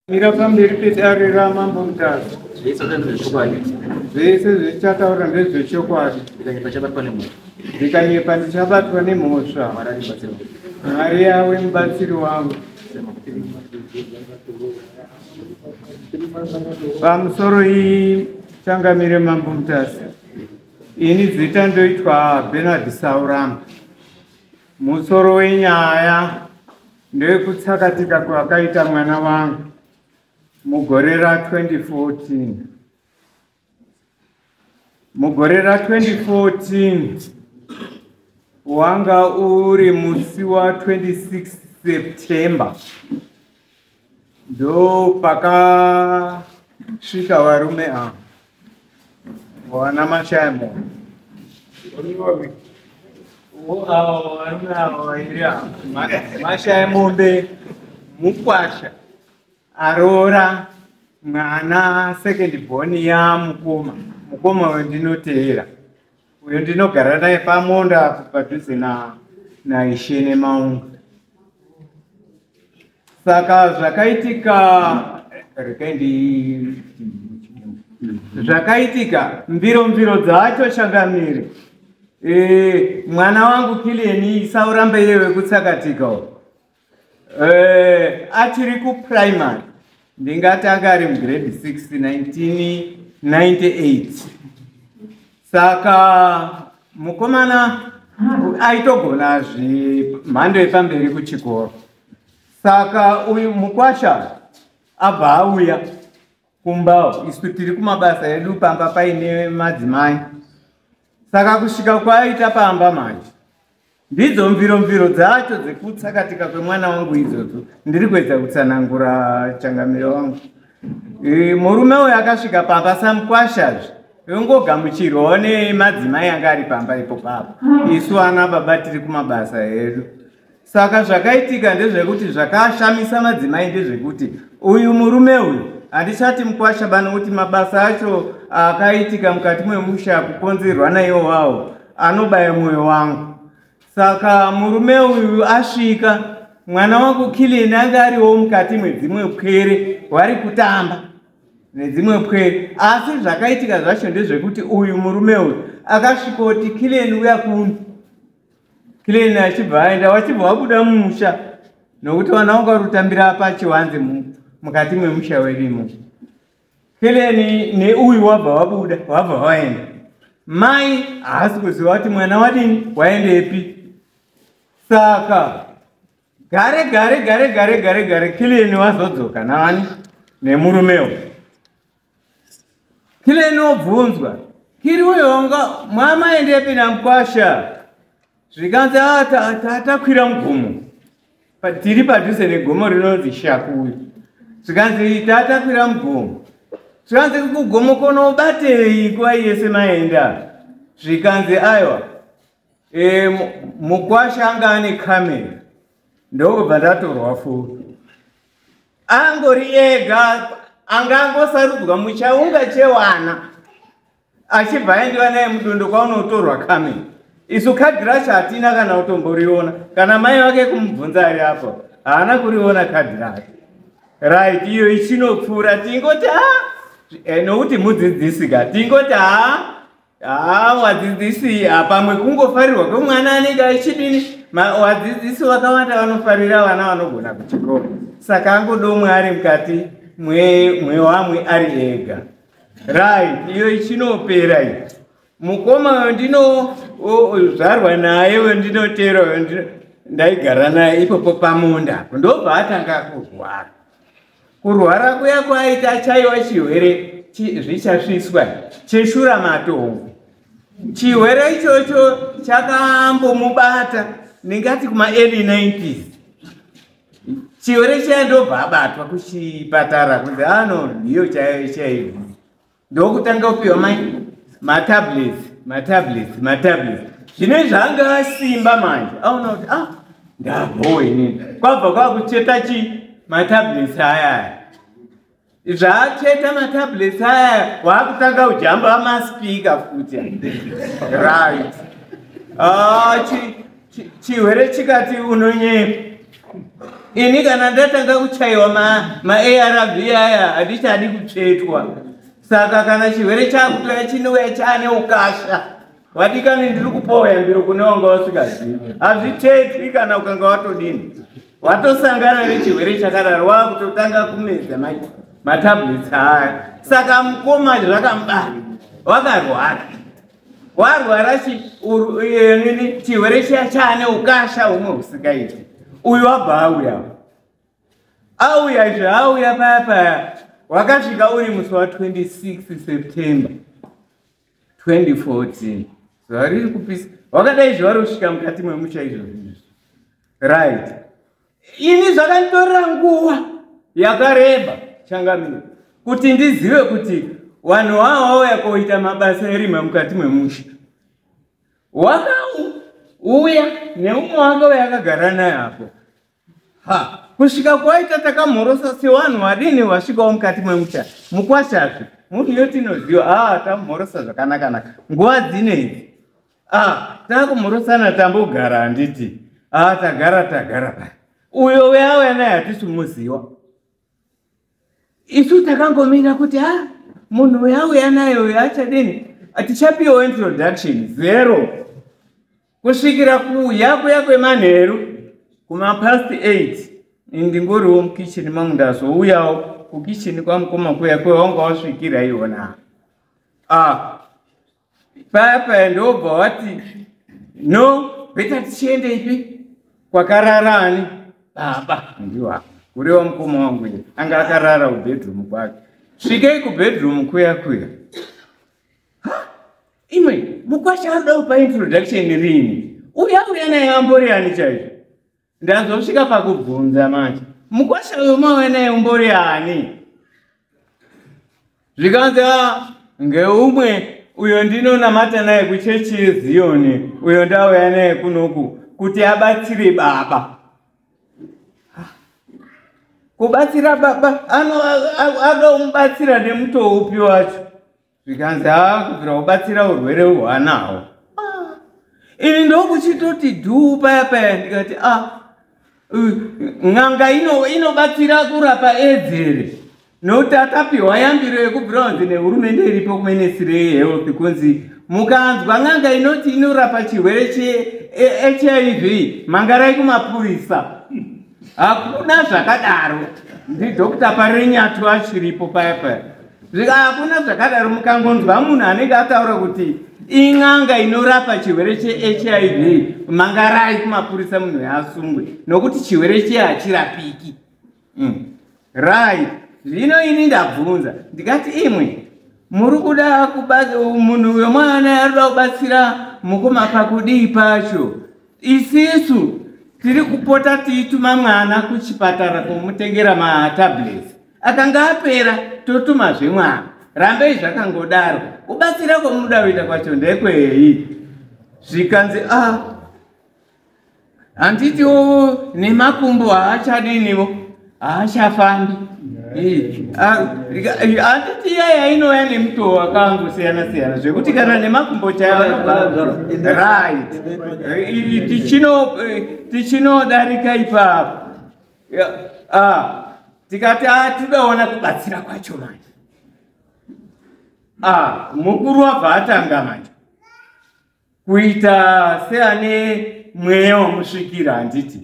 Mira pamberi pedare ramambo Mutasa. Zvese zvechokwadi. Zvese zvichataura ndezvechokwadi. Ndikanyepa chabatwa nemhosva. Ndikanyepa ndichabatwa nemhosva. Mwari yawe mubatsiri wangu. Pamusoro iyi changamire mambo Mutasa. Ini zita ndoitwa Bernard Sauramba. Musoro wenyaya Ndekutsakatika kwakaita mwana wangu mugore ra 2014 mugore ra 2014 wanga uri musi wa 26 september ndo pakasvika varume ava Wana mashamo. Mashaya mombe mukwasha aroora mwana second born yamukoma mukoma wendinoteera Uyu ndinogara naye pamunda apo padhuze na naishe nemaunga. Saka zvakaitika rekai ndi zvakaitika mbiro mbiro dzacho changamire e, mwana wangu kilieni isauramba iye wekutsakatika Eh, achiri kuprimary ndingati anga ari mugrade 6 1998 saka mukomana aitogona zvimhando yepamberi kuchikoro saka uyu mukwasha abva auya kumbawo isu tiri kumabasa edu pamba paine madzimai saka kusvika kwaaita pamba manje ndidzo mviro mviro dzacho dzekutsakatika kwemwana wangu idzodzo ndiri kuedza kutsanangura changamiro wangu e, murume uyo akasvika pamba samukwashazve yongogamuchirwawo nemadzimai anga ari pamba ipo papa isu ana baba tiri kumabasa edu Saka zvakaitika ndezvekuti zvakashamisa madzimai ndezvekuti uyu murume uyu handichati mukwasha bana kuti mabasa acho akaitika mukati mwemusha kukonzerwa naiwo wawo anobaya mwoyo wangu saka murume uyu asvika mwana wangu kilini ange ariwo mukati mwedzimwe pwere wari kutamba nedzimwe pwere asi zvakaitika zvacho ndezvekuti uyu murume uyu akasvikoti kilini uya kuno clean achibva aenda wachibva wabuda mumusha nokuti vana vanga rutambira apa chiwanzi mukati memusha werimo clean neuyu wabva wabuda wabva waenda mai haasi kuziva kuti mwana wadini waendepi saka gare gare gare gare gare gare clean wazodzoka navani nemurumewo kile inobvunzwa kiri uyonga mwamaendepi namkwasha zvikanzi ah, tatakwira mugomo tiri padhuze negomo rinonzi shakuyu zvikanzi tatakwira mugomo zvikanzi kugomo konobatei nguva yese maenda zvikanzi aiwa E, mukwasha anga ane kamera ndokubva ndatorwa futi angori ega anga angosarudzwa muchaunga chewana achibva aendiwa naye mudondo kwaunotorwa kamera isu kadhi racho hatina kana kutomboriona kana mai vake kumubvunza ari apo haana kuriona kadhi racho right iyo ichinopfuura tingoti ha eh, nokuti mudzidzisi ka tingoti ha haa wadzidzisi apamwe kungofarirwa kwemwana anenge achidini wadzidzisi vakawanda vanofarira vana vanogona kuchikoro saka angodomwe ari mukati mwewamwe ari ega right iyo ichinopera iyo mukoma wendinozvarwa naye wendinotera ndaigara naye ipopo pamunda ndobva atanga kurwara Kurwara kuya kwaaita achaiwa chihwere zvichasviswa cheshura matongo. Chihwere ichocho chakambomubata ndingati kuma early 90s. Chihwere chiya ndobva abatwa kuchipatara kunzi ano ah, ndiyo chaiyo chaiyo. ndokutanga kupiwa mai matablets matablets matablets zvine zvanga asimba manje aona kuti ah ndabhowa inini kwabva kwakucheta chi matablets ayaya zvaacheta matablets ayaya waakutanga kujamba maspika futi right achi ah, Chi- chihwere chikati unonyepa ini kana ndatanga kuchaiwa ma- maarv aya handichadi kutsvetwa saka kana chihwere chakutoya chinouya chaane ukasha vadikani ndiri kupowa yambiro kune wanga wasingazivi hazvitsvetwi kana ukanga watodini watosangana nechihwere chakadaro wakutotanga kumedza ma- matablets aya saka mukoma zvakamubata wakarwara warwara eh, chirwere chiya chaane ukasha humwe husingaiti uyu abva auya auya izvi auya paya paya wakasvika uri musi wa 26 september 2014 zuva riri kupisa wakadai zuva rosvika mukati mwemusha izvozvi izvi right ini zvakanditorera nguva yakareba changamire kuti ndizive kuti vanhu vavo vauya koita mabasa erima mukati memusha wakauya neumwe wake uya akagara naye apo ha kusvika kwaita takamhorosa sevanhu vadini vasvikawo mukati memusha mukwashazve munhu yotinoziva a ah, tamhorosa zvakanakanaka nguva dzinei Ah, takumurusana tambogara handiti? Ah, tagara tagara paya. Uyo weauya naye hatisi kumuziva. Isu takangomira kuti ah, munhu weauya naye uyo achadini? Hatichapiwa introduction zero. Kusvikira kuuya kuya kwemanheru kuma past 8 ndingoriwo mukitchen mangu ndazouyawo kukitchen kwamukoma kuya kwewanga wasvikira iwona. Ah, paya paya ndobva wati no beta tichiende ipi kwakarara ani baba ndiwa kureva mukoma wangu ye anga akarara kubedroom kwake svikei kubedroom kuya kuya imwe mukwasha anoda kupa introduction riini uya uya naye ambori ani chaizvo Ndazosvika pakubvunza manje. Mukwasha uyo mawenaye umbori ani? Zvikanzi ah, ngeumwe uyo ndinonamata naye kuchechi yeziyoni uyo ndauya naye kunoku kuti abatsire baba kubatsira baba anoda kumubatsira nemutoo upi wacho zvikanzi haa kubvira kubatsira urwere hwaanawo ah, ini ndokuchitoti dhuu paya paya ndikati a ah, n'anga inobatsira kurapa edzere nokuti akapiwa yambiro yekubvira kunzi nehurumende iripo kuminisiri yehealth kunzi mukanzwa n'anga inoti inorapa chirwere chehiv mangarai kumapurisa hakuna zvakadaro ndidokta parenyatu achiripo paya paya zvika hakuna zvakadaro mukangonzwa munhu anenge ataura kuti in'anga inorapa chirwere chehiv mangarai kumapurisa munhu yaasungwe nokuti chirwere chee hachirapiki mm. right zvino ini ndabvunza ndikati imwe muri kuda munhu wemwana arikuda kubatsira mukoma pakudii pacho isisu tiri kupota tiituma mwana kuchipatara kumutengera matablets akanga apera totumazve mwana rambei zvakangodaro kubatsira kwomuda kuita kwacho ndekwei zvikanzi a ah, handitiwo nemakumbo haachadinivo haachafambi handiti iya yainouya nemutowo wakangosiyana siyana zvekuti kana nemakumbo chayaarit tichinodarika ipapo Ah, tikati ah, tidaona kubatsira kwacho manje ah, mukuru wabva atanga manje kuita seane mweya wamusvikira handiti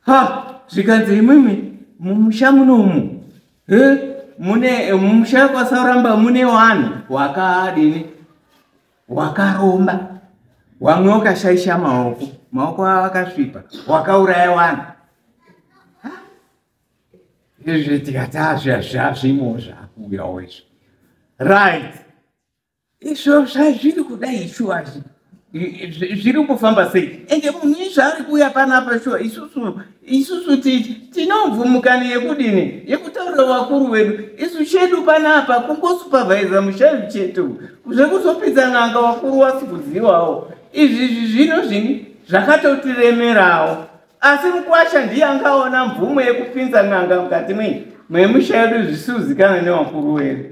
ha zvikanzi imwimwi mumusha muno umu he mune mumusha kwasauramba mune wanhu wakadini wakaromba wamwe wakashaisha maoko maoko avo akasvipa wakauraya vanhu izvi tikati azvazvazvimo zvakuuyawo izvo right izvo zvazviri kudai shuwa zviri kufamba sei ende munhu izvaari kuuya panapa shuwa isusu isusu titi tinomvumukana yekudini yekutaurira vakuru vedu isu chedu panapa kungosupavhaiza mushavi chete zvekuzopinza n'anga vakuru wasi kuzivawo izvizvi zvino zvini zvakatotiremerawo asi mukwasha ndiye angaona mvumo yekupinza n'anga mukati mei memusha yedu zvisizikana nevakuru wedu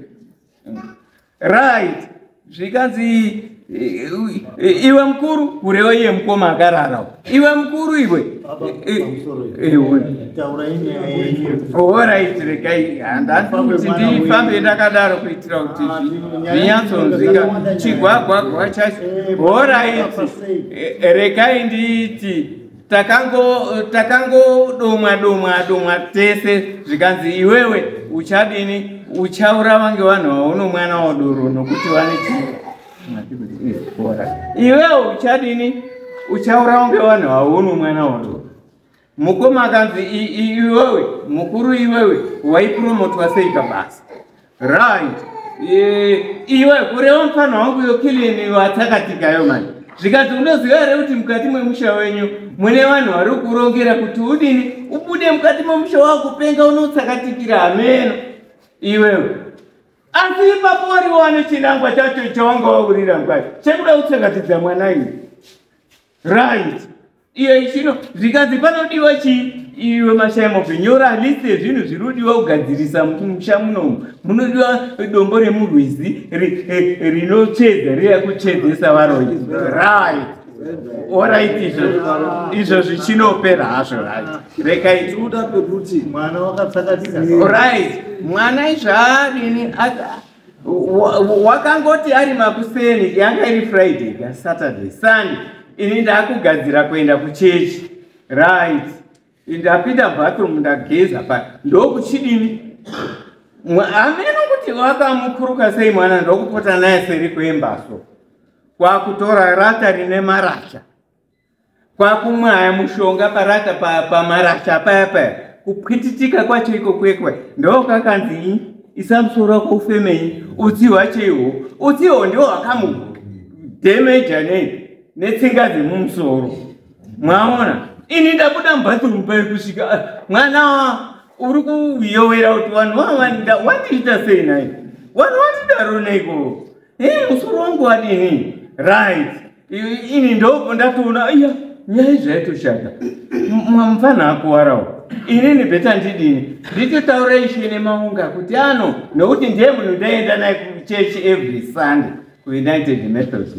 right zvikanzi iwe mukuru kureva iye mukoma akarara iwe mukuru iwe orit regai handandikuti ndifambe ndakadaro kuitira kuti zvinyatsonzika chigwagwagwa chacho orit regai ndiiti takangodomwa takango domwa domwa tese zvikanzi iwewe uchadini uchaura vange vanhu vauno mwana wadoro nokuti vane chii iwewe uchadini uchaura vange vanhu vauno mwana wadoro mukoma akanzi iwewe mukuru iwewe waipromotwa sei pabasa Right. Eh, iwe kureva mfana wangu yo kilini watsakatika yo manje. Zvikanzi unoziva here kuti mukati mwemusha wenyu mune vanhu vari kurongera kuti udini ubude mukati mwemusha wako penga unotsakatikira hameno iwewe. Asi ipapo wari wani chinangwa chacho chawanga waurira ngwai chekuda kutsakatidza mwana ini. Right. Iye chino zvikanzi panodiwa chii iwe mashaya mopi nyora list yezvinhu zviri kudiwa kugadzirisa musha munomu munodiwa dombo remurwizi eh, rinotsvedza riya kutsvedzesa varoi right orit izvo zvichinopera hazvo rekaitikuda pekuti mwana wakatsakatika orit mwana izvaadini wakangoti ari makuseni yanga iri friday ka saturday sunday ini ndakugadzira kuenda kuchechi right ndapinda bathroom ndageza pa ndokuchidini ameno kuti wakamukuruka sei mwana ndokupota naye seri kwembaso kwakutora rata rine marasha kwakumwaya mushonga parata pamarasha paya paya kupwititika kwacho iko kwekwe ndokakanzi isa musoro wako ufemei utsi hwacho ihwo utsi ihwo ndiwo hwakamudhemeja nei netsinga dzemumusoro mwaona ini ndabuda mubathroom pai kusvika ah, mwana uri kuyowera kuti vanhu vavanda wandiita sei nai vanhu vandidaro neiko musoro wangu wadini right ini ndobva ndatoona aiya nyaya zvaitoshata mfana akuwarawo inini beta ndidini nditotaura ishe nemaunga kuti ano nokuti ndiye munhu ndaenda naye kuchechi every sunday kuunited methods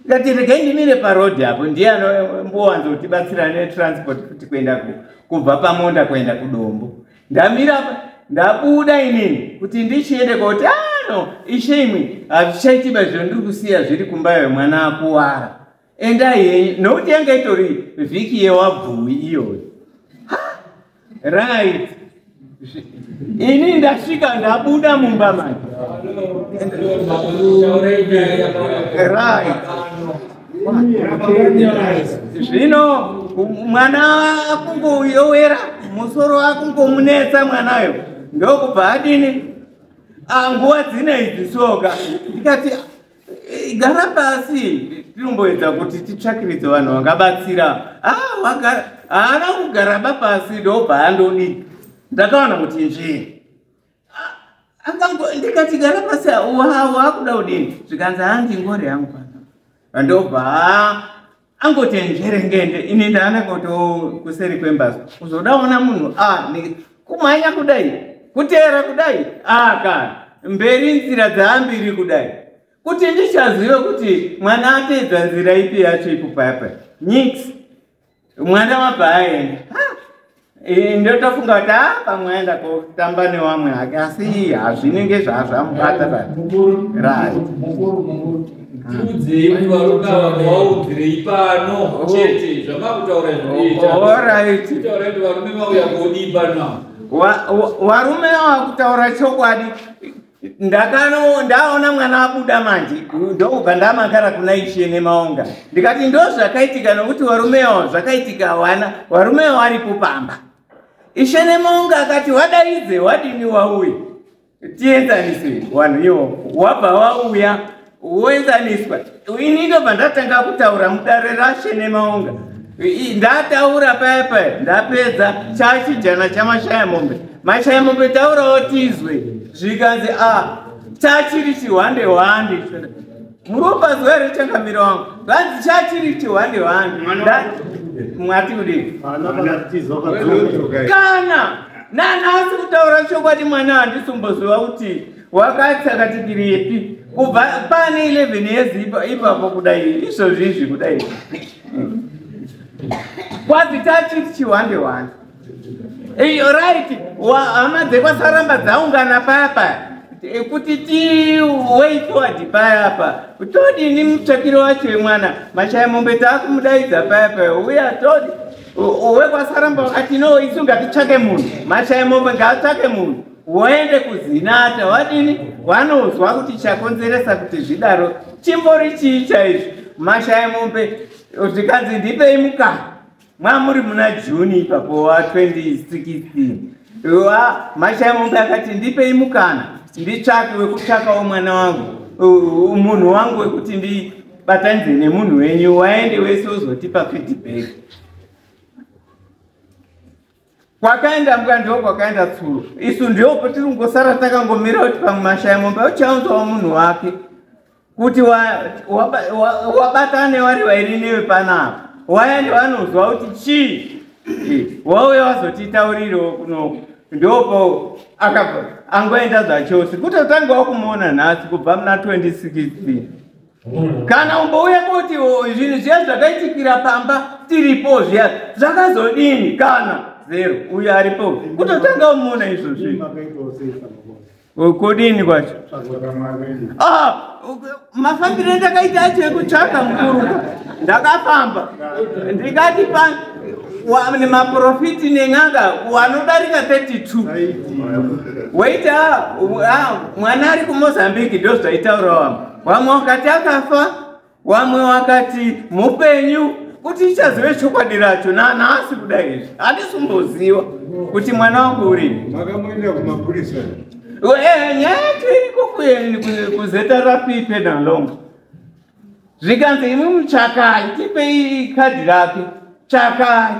ndati regai ndimire parodi apo ndiye anombowanzotibatsira netransport kuti kuenda kubva pamonda kuenda kudombo ndamira apa ndabuda inini kuti ndichiende koti ano ishe imwe hazvichaitiba zvino ndiri kusiya zviri kumba yemwana akuwara endai henyu nokuti yanga itori vhiki yewabvuwi iyoyo right ini ndasvika ndabuda mumba manje right zvino mwana akungoyowera musoro akungomunetsa mwanayo ndokubva adini ah, nguva dzine idzi soka ndikati eh, gara pasi tinomboedza kuti titsvakiridze vanhu vangabatsira ah, haana kugaraba pasi ndobva andodii ndakaona kuti njii ndikati gara pasi waakuda kudini zvikanzi hanzi ngori yangu pano vandobva angoti njerengende ini ndaana koto kuseri kwembazi kuzodaona munhu kumhanya kudai kuteera kudai aka mberi nzira dzaambiri kudai kuti ndichazive kuti mwana ateedza nzira ipi yacho ipupaipa nyix mwana wabva aenda ndotofunga kuti a pamwe aenda kotamba newamwe hake asi hazvinenge zvazvamubata varume vakutaura chokwadi ndakano ndaona mwana abuda manje ndokubva ndamakara kuna ishe nemaonga ndikati ndo zvakaitika nokuti warumewo zvakaitika hawana warumewo aripo pamba ishe nemaonga akati wadaidze wadini wauya tienzaniswe wanhu iwo wabva wauya woenzaniswa ini ndobva ndatanga kutaura mudare rashe nemaunga ndataura paya paya ndapedza chachijana chamashaya mombe mashaya mombe taurawo tizwe zvikanzi a ah, chachiri chihwande hwande muropa zuva rechangamiro wangu vanzi chachiri chihwande hwande mwati kudii kana nanhasi kutaura chokwadi mwana handisumboziva kuti wakati akati tiri yepi kubva pane 11 years ipapo kudai izvozvi izvi kudai kwazi tachiti chiwande wande right hama dzekwasaramba dzaungana papa kuti tiway forward paya apa todini mutsvakiro wacho wemwana mashaya mombe taakumudaidza paya paya uya todi wekwasaramba wakati no isu ngatitsvake munhu mashaya mombe ngaatsvake munhu woende kuzinata wadini wanonzwa kuti chakonzeresa kuti zvidaro chimbori chii chaizvo mashaya mombe zvikanzi ndipei mukana mwamuri muna juni ipapo wa 2016 wa mashaya mombe akati ndipei mukana nditsvake wekutsvakawo mwana wangu munhu wangu wekuti ndibatanidze nemunhu wenyu waende wese uzotipa feedback kwakaenda mbwa ndo kwakaenda tsuro isu ndiopo tiri kungosara takangomira kuti pamwe mashaya momba uchaunzawo munhu wake kuti wabatane wari vairi newe panapa wayani vanozwa kuti chii wauya wazotiitauririwo kuno ndopo angoenda zvachose kutotanga wakumuona nhasi kubva muna 2016 kana umbouya kuti zvinhu zviya zvakaitikira pamba tiripo zviya zvakazodini kana zero uyo aripo kutotanga umuona izvo zvinhu kodini kwacho ah, mafambiro ndakaita acho ekutsvaga mukuru ndakafamba ndikati pa nemaprofiti nen'anga wanodarika 32 waita ah, ah, mwana ari kumozambique ndozvaitaurawa vamwe vakati akafa vamwe vakati mupenyu kuti ichazive chokwadi racho nanhasi kuda izvi handisi kumboziva kuti mwana wangu urii makamuendera kumapurisa eh, nyaya yacho iriko kuzeta rapipe nalonga zvikanzi imi muchakai tipei kadhi rake chakai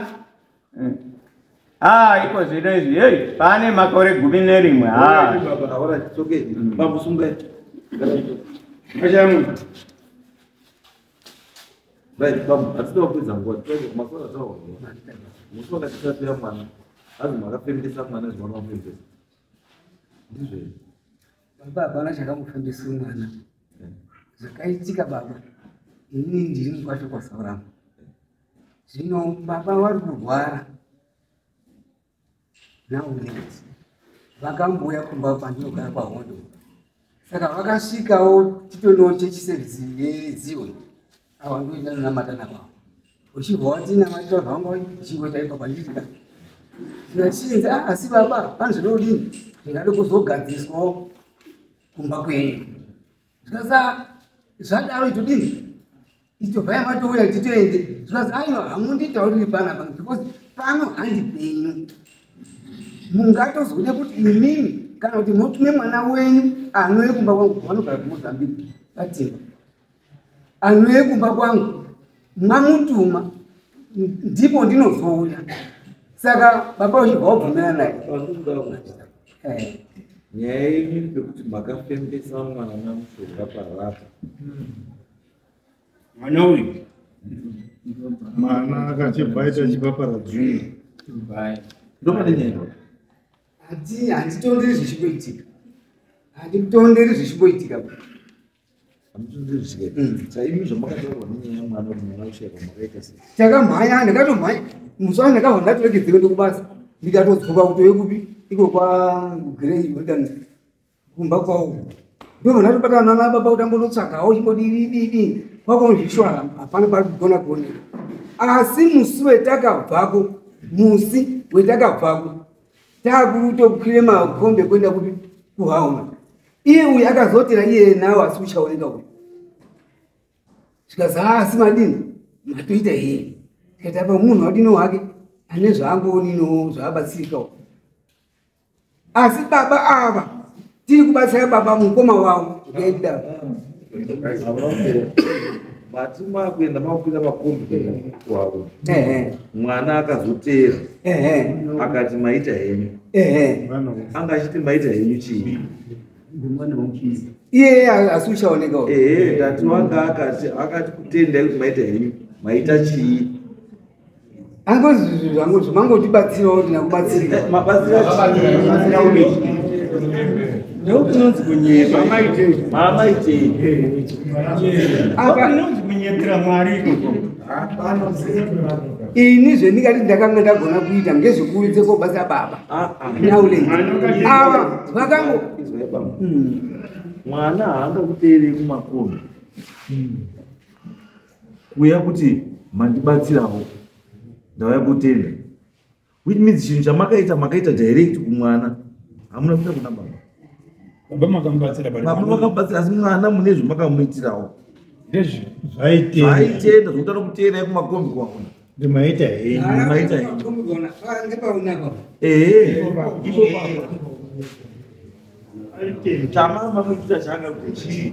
Ah, iko zvino izvi hey, pane makore gumi nerimwe baba chakamufundisa mwana zvakaitika baba ini ndiri mukwasha kwasaurama zvino baba vari kurwara nauneti vakambouya kumba kwandinogara kwahondo saka vakasvikawo titonoo chechiserisi yezioni ava ndoita nonamata nakwavo uchibva watinamatira zvanga uchingoita ipa kwandika ndinachinzi ah, asi baba panzvinodini ndingade kuzogadziriswawo kumba kwenyu zvikasa zvadaro itodii itobva yamatouya titoende zvikasa aiwa hamunditauriri pana pano because pano handi penyu mungatozode kuti imimi kana kuti motume mwana wenyu anouye kumba kwangu vanogara kumozambique vatima anouye kumba kwangu mamutuma ndipo ndinozouya saka baba uchibva wabvumira naye eh. nyaya yenyu pekuti makafembesa mwana mushonga parapa hmm. mwana uyu mwana akachibva aita chipapara dzungu ndomane nyaya hati handitonderi zvichimboitika handitonderi zvichimboitika takamhanya ndakatomhanya musi wani ndakabva ndatoregedzeka ndokubasa ndikatodzoka kutove kupi iko kwagrey rikan kumba kwavo ndobva ndatobatana nana baba kuti ambonotsvagawo chimbodidididi kwakonzviswa hapana pari kugona kuoneka asi musi wetakabvako musi wetakabvako taakutokwire makombe kuenda kupi kuhauma iye uyu akazotera iye nawo asi uchaoneka uyu zvikazi haa asi madini matoita here tikati apa munhu wadino wake ane zvaangoonino zvaabatsirika u asi baba ava tiri kubatsira baba mukoma wavo ngaidaro mati makuenda makukwira makombi wavo mwana akazoteera akati maita henyu anga achiti maita henyu chii iye asi uchaoneka ehe ndati wanga akati akati kutendai kuti maita henyu maita chii angozi zvinhu zvangu zvimangotibatsirawo kuti nakubatsirikabatsirakubatsirakuii ndokunonzi kunyepa maamaitei apanonzi kunyepera mwari ini zvendingati ndakanga ndagona kuita ngezvekuuridze kobasa baba ah, ah. naule ava vakango hmm. mwana haangakuteerei kumakomi hmm. kuuya kuti mandibatsirawo ndauya kutenda which means chinhu chamakaita makaita direct kumwana hamuna kuita kuna baba baba makamubatsira baba makamubatsira asi mwana mune zvemakamuitirawo ndezvi zvaitenda zvaitenda zvokuta nokutenda yekumakombi kwaona ndimaita henyu ndimaita henyu ehe chamama muitira changa kuchii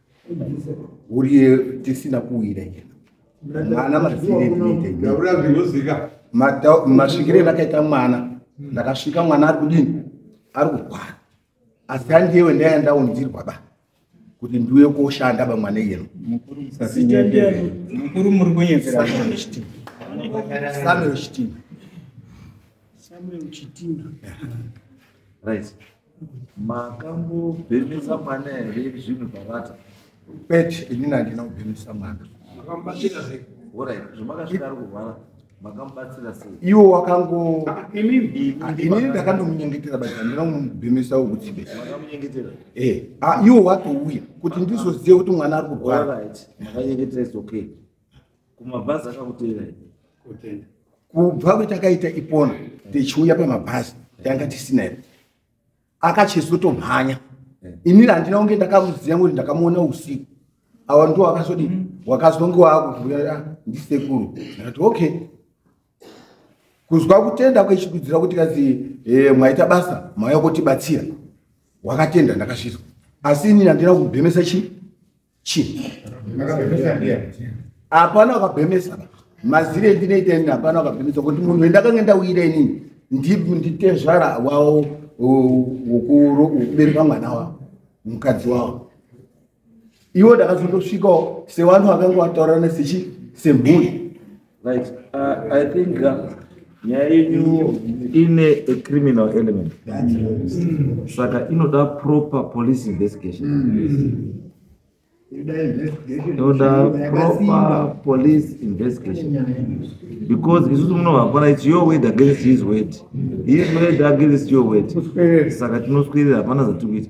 uriye tisina kuwira ii mwana maziretinozika masvikire endakaita mwana hmm. ndakasvika mwana ari kudini ari kurwara asi andiyewe ndaiya ndaunzirwa ba kuti ndiuye koshanda bamwana iyeno mukuru muri kunyepera samuel chitima samuel chitima right makambobhemesa mwana here zvinhu zvavata kwete inini handina kubhemesa mwana orit zvamakasvika ari kurwara makamubatsira sei iwo wakangoinini ah, ndakandomunyengetera but handina kumubhemesa wokutsibe makamunyengetera e eh, ah, iwo watouya kuti ndizozive kuti mwana ari kurwara makanyengetera is okay kumabhazi akakuteera kutenda kubva kwetakaita ipona tichiuya pamabhazi tanga tisina iri akachizotomhanya inini handina kunge ndakamuziva kuti ndakamuona usiku awa ndo wakazodii mm. wakazonge wakuvuyaa ah, ndisekuru ndikati okay kuzwa kutenda kwechidudzira kuti kazi e, mwaita basa mwaya kutibatsira wakatenda ndakazvizwa asi inini handina kubhemesa chii chii hapana wakabhemesa mazire ndinoita ini hapana wakabhemesa kuti munhu wendakange ndauyira inini nditezvara wawo wokubereka mwana wavo mukadzi wavo iwo ndakazotosvikawo sevanhu vakanga vataurana sechi semhuri Right. Uh, I think uh, nyaya yenyu ine a criminal element saka inoda proper police investigation inoda proper police investigation because isusu munovakwana its your word against his word his word against your word saka tinoswirira hapana zatiri kuita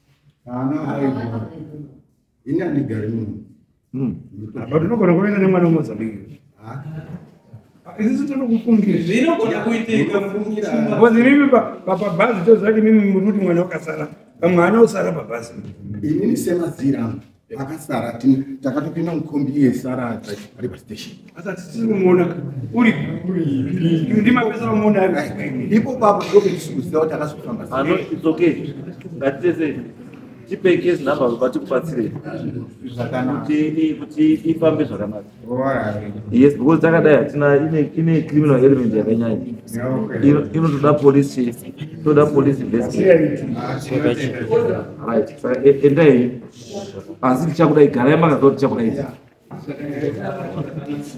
haana aigona ini handigari muno hmm. but unogona kuenda nemwana wemozambique isusu tinokufungirirapabhazi tozati mimi muri kuti mwana wakasara pamwana osara pabhazi inini semazira vakasara takatopinda mukombi iye sara ari pastation asati tiri kumuona uri ndi mapesa vamuona ipo papo ndokutisiuziva kuti akazofamba ano it's okay ngatitese tipekes number vati kubatsirei kuti ifambe zvakanaka yes because takadai hatina ine criminal element yakanyanya inotoda police toda police investmentendai asi tichakudai garai makaziva tichakudai